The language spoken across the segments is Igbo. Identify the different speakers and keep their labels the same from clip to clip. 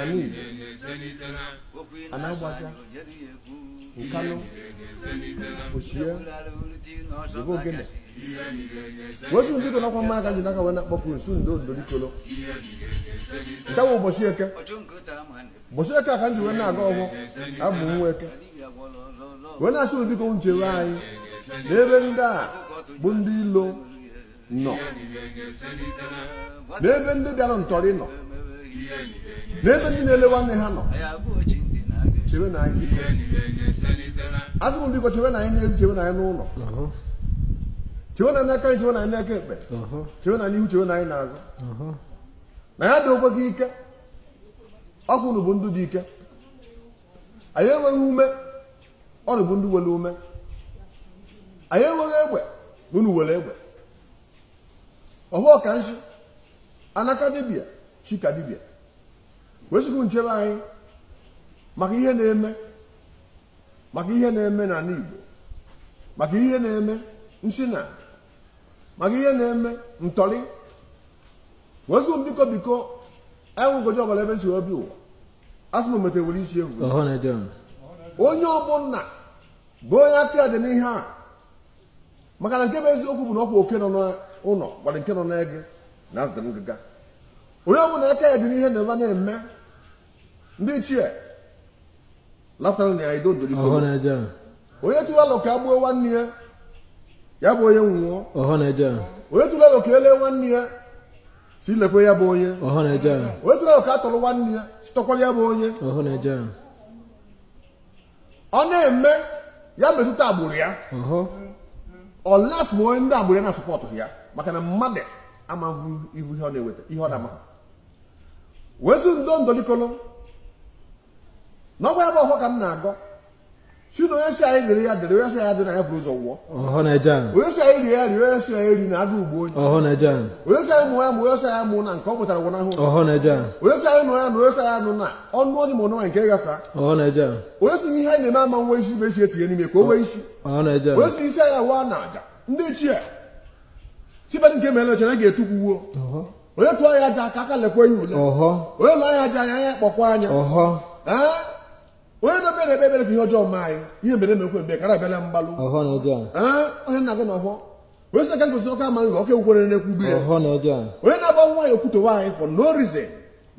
Speaker 1: anyị anagbaja nkanụ ochie ebe ogene wetu ndị dị nakwa mma aka ji n'aka wee na-akpọpụ nsu ndị odorikolo taa bụ ụbọchị eke ụbọchị eke a ka m ji wee na-agọ ọfọ abụ nwa eke wee na-asị unu biko chewe anyị n'ebe ndị a bụ ndị ilo nọ n'ebe ndị bịara ntọrị nọ n'ebe ndị na-ele nwanne ha nọ chewenụ anyị asị m biko chewenụ anyị n'ezi chewenụ anyị n'ụlọ chewenụ anyị n'aka nri chewenụ anyị n'aka ekpe chewenụ anyị n'ihu chewenụ anyị n'azụ na anyị adịkwaghị ike ọkwa unu bụ ndị dị ike anyị enweghị ume unu bụ ndị nwere ume anyị enweghị egbe na unu nwere egbe ọfọ ka nsi ana ka dibịa chi ka dibịa wee sị biko chebe anyị maka ihe na-eme maka ihe na-eme n'ala Igbo maka ihe na-eme nsi na maka ihe na-eme ntọrị wee sị biko biko enwegojọ ọbara ebe m si wee bịa ụwa asị m omete were isi bu onye ọbụla bụ onye aka ya dị n'ihe a maka na nke bụ eziokwu bụ na ọkwa oke nọ n'ụlọ gwara nke nọ n'ege na azụ dị na ngịga onye ọbụla aka ya dị n'ihe na-eme na-eme ndị ichie onye tụọ alo ka e gbuo nwanne ya ya bụ onye nwụọ onye tụọ alo ka e lee nwanne ya si lekwe ya bụ onye onye tụọ alo ka a tọrọ nwanne ya si tọkwara ya bụ onye ọ na-eme ya metụta agbụrụ ya unless ma ọ ndị agbụrụ ya na support ya maka na mmadụ amaghị ihu ihe ọ na-eweta ihe ọ na-amaghị wezu ndo ndolikolo na ọgwa ya bụ ọfọ ka m na-agọ si na onye si anyị dịrị ya dịrị onye si anyị adịna ya buru ụzọ nwụọ onye si anyị rie ya rie onye si anyị erina agụụ gbuo onye onye si anyị mụọ ya mụọ onye si anyị amụna nke ọ mụtara gwụnahụ onye si anyị nụọ ya nụọ onye si anyị anụna ọnụ onye ma ọnụ nke gasa onye si ihe anyị na-eme ama enwe isi bụ esi etinye n'ime ka o nwee isi onye si isi anyị awụ na aja ndị ichie sibadị nke mere ọcha na ga-etukwu wuo onye tụọ anyị ajọ aka aka lekwa ya ule onye lọọ anyị ajọ anya anya kpọkwa anya onye na-ekpe na-ekpe ekpere ka ihe ọjọọ mee anyị ihe mere emekwe mgbe kara abịala mgbalụ onye na-agọ n'ọfọ onye si na ka ngozi ọka amaghị ọka ekwukwere na-ekwu ugbu ya onye na-agba nwa ya o kwutọwa anyị for no reason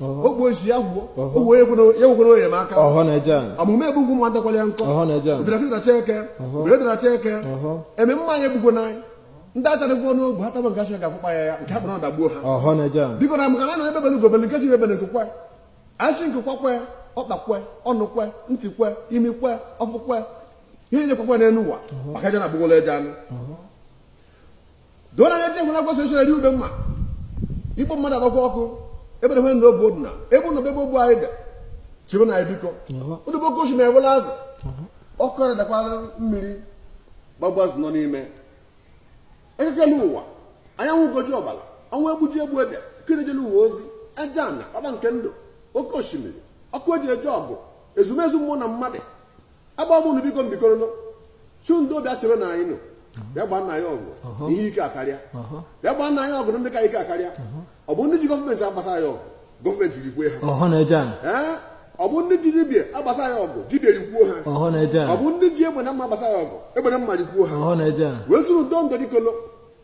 Speaker 1: o gbuo isi ya gwuo o wee ekwere onye m aka amụma egbugwu mmadụ kwara ya nkọ obirakịtaracha eke obirakịtaracha eke eme mmanya egbugwo n'anyị ndị achara gụọ n'ogbu ha taba nke achara ga-afụkpa ya ya nke ha kpara dagbuo ha biko na maka na na egbe bele ugo bele nke sị ibe ebele nku kwe a sị nku kwa kwe ọkpa kwe ọnụ kwe ntị kwe imi kwe ọfụ kwe ihe na-ekwekwe n'elu ụwa maka aja na agbụgolo eje anụ dona na eche hụla gwasị echere ube mma igbo mmadụ agbakwa ọkụ ebere hwe na obu odina ebe ụlọ ebe ogbu anyị dị chebe na biko ụdị bụ okochi na-ewela azụ ọkụ ara dakwara mmiri gbagbuo azụ nọ n'ime eke kele ụwa anyanwụ ugo ji ọbara ọnwa egbu ji egbu ede kirejele ụwa ozi aja na ọba nke ndụ oke osimiri ọkụ eji eje ọgụ ezumezu mmụọ na mmadụ agba m unu biko mbikoro nọ chu ndị obi asịrị na anyị nọ bịa gbaa nna anyị ọgụ na ihe ike akarịa bịa gbaa nna anyị ọgụ na ndị ka ike akarịa ọ bụ ndị ji gọọmenti agbasa ya ọgụ gọọmenti rikwue ha ọhụ na-eje anyị Ee, ọ bụ ndị ji dibia agbasa ya ọgụ dibia rikwuo ha ọhụ na-eje anyị ọ bụ ndị ji egbe na mma agbasa ya ọgụ egbe na mma rikwuo ha ọhụ na-eje anyị wee sụrụ udo ndọ dikolo